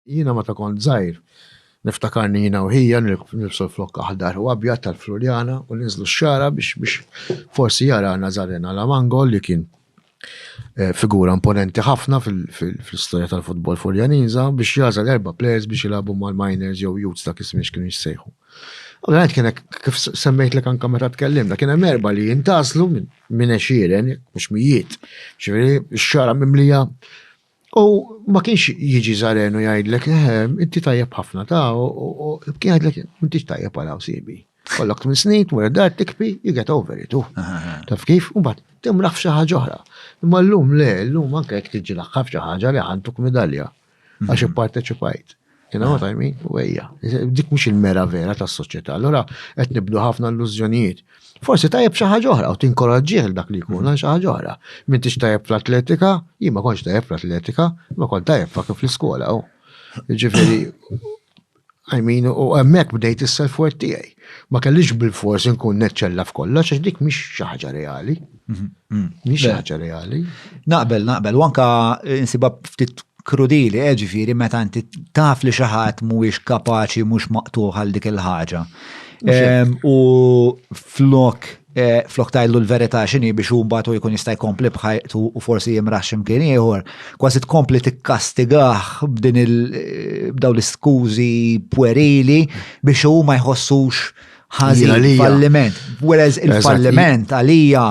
Jiena meta kont żgħir niftakarni jiena u ħija nilbsu l-flokk aħdar u abjad tal-Fluljana u ninżlu x-xagħra biex biex forsi jara Nazaren Alamango li kien eh, figura imponenti ħafna fl-istorja tal-futbol Fuljaniża biex jażel erba' players biex jilagħbu mal-miners jew youths dak ismiex kienu jissejħu. Ovvjament kien kif semmejt lek anke meta tkellimna, kien hemm erba' li jintaslu minn għexieren, mhux mijiet. Ġifieri x-xara mimlija U ma kienx jiġi żaren u jgħidlek, ehm, inti tajjeb ħafna ta' u kien jgħidlek, m'intix tajjeb għal hawn sibi. Kollok tmien snin, tmur id-dar tikpi, you get over it. Taf kif? U mbagħad timraħ f'xi ħaġa oħra. Imma llum le, llum anke jekk tiġi l-aħħar f'xi ħaġa li ħantuk midalja għax ipparteċipajt. You know what I mean? Wejja. Dik mhux il-mera vera tas-soċjetà. Allura qed nibdu ħafna illużjonijiet. Forsi tajjeb xi ħaġa oħra u tinkoraġġih dak li jkun għal xi ħaġa oħra. M'intix tajjeb fl-atletika, jien ma kontx tajjeb fl-atletika, ma kont tajjeb fa' kif l-iskola u. Ġifieri, I mean, u hemmhekk bdejt is-self-worth tiegħi. Ma kellix bil-fors inkun neċċella f'kollox għax dik mhix xi ħaġa reali. Mhix ħaġa reali. Naqbel, naqbel, u anka insiba ftit krudili, eh, ġifieri meta inti taf li xi ħadd mhuwiex kapaċi mhux maqtuħ għal dik il-ħaġa. Ehm, u flok eh, flok tajlu l-verità x'inhi biex hu mbagħad jkun jista' jkompli bħajtu u forsi jimraħ x'imkien ieħor, kważi tkompli tikkastigah b'din il eh, b'daw l-iskużi pwerili biex hu ma jħossux ħażin, falliment. Whereas il-falliment għalija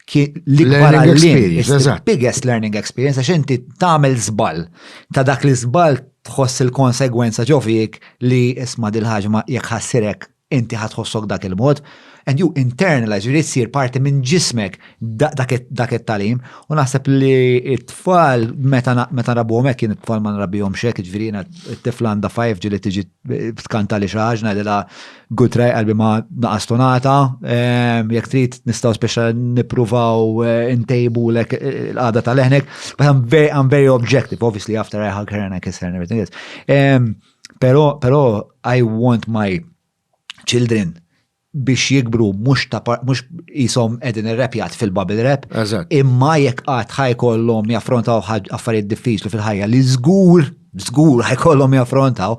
l-ikbar għallim, biggest learning experience, għax inti tagħmel żball ta' dak li żball tħoss il-konsegwenza ġofik li isma' dil-ħaġma jekk ħassirek inti ħatħossok dak il-mod, and you internalize, jrid sir parti minn ġismek dak it-talim, u naħseb li it-tfal meta rabuhom hekk kien it-tfal ma nrabihom xek, ġifieri t-tifla għandha 5 ġili tiġi Ftkanta li xaħġ najdela good try qalbi ma naqas tonata, ehm, jek trid nistaw speċa nipruvaw eh, intejbu lek eh, l-qada tal-eħnek, but I'm very, I'm very objective, obviously after I hug her and I kiss her and everything else. Ehm, pero, pero I want my children biex jikbru mhux ta' mhux qishom qegħdin irrepjat fil-bubble rap. Eżatt. Imma jekk qatt ħajkollhom jaffrontaw affarijiet diffiċli fil-ħajja li żgur, żgur ħajkollhom jaffrontaw,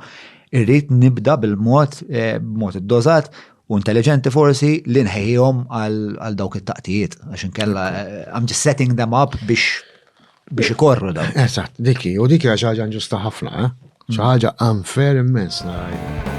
irrid nibda bil-mod eh, b'mod iddożat u intelligenti forsi li nħejjihom għal dawk it-taqtijiet għax inkella eh, I'm just setting them up biex Biex ikorru dawn. Eżatt, dik hi, u dik hija xi ħaġa ġusta ħafna, eh? mm. xi ħaġa unfair immens narajna.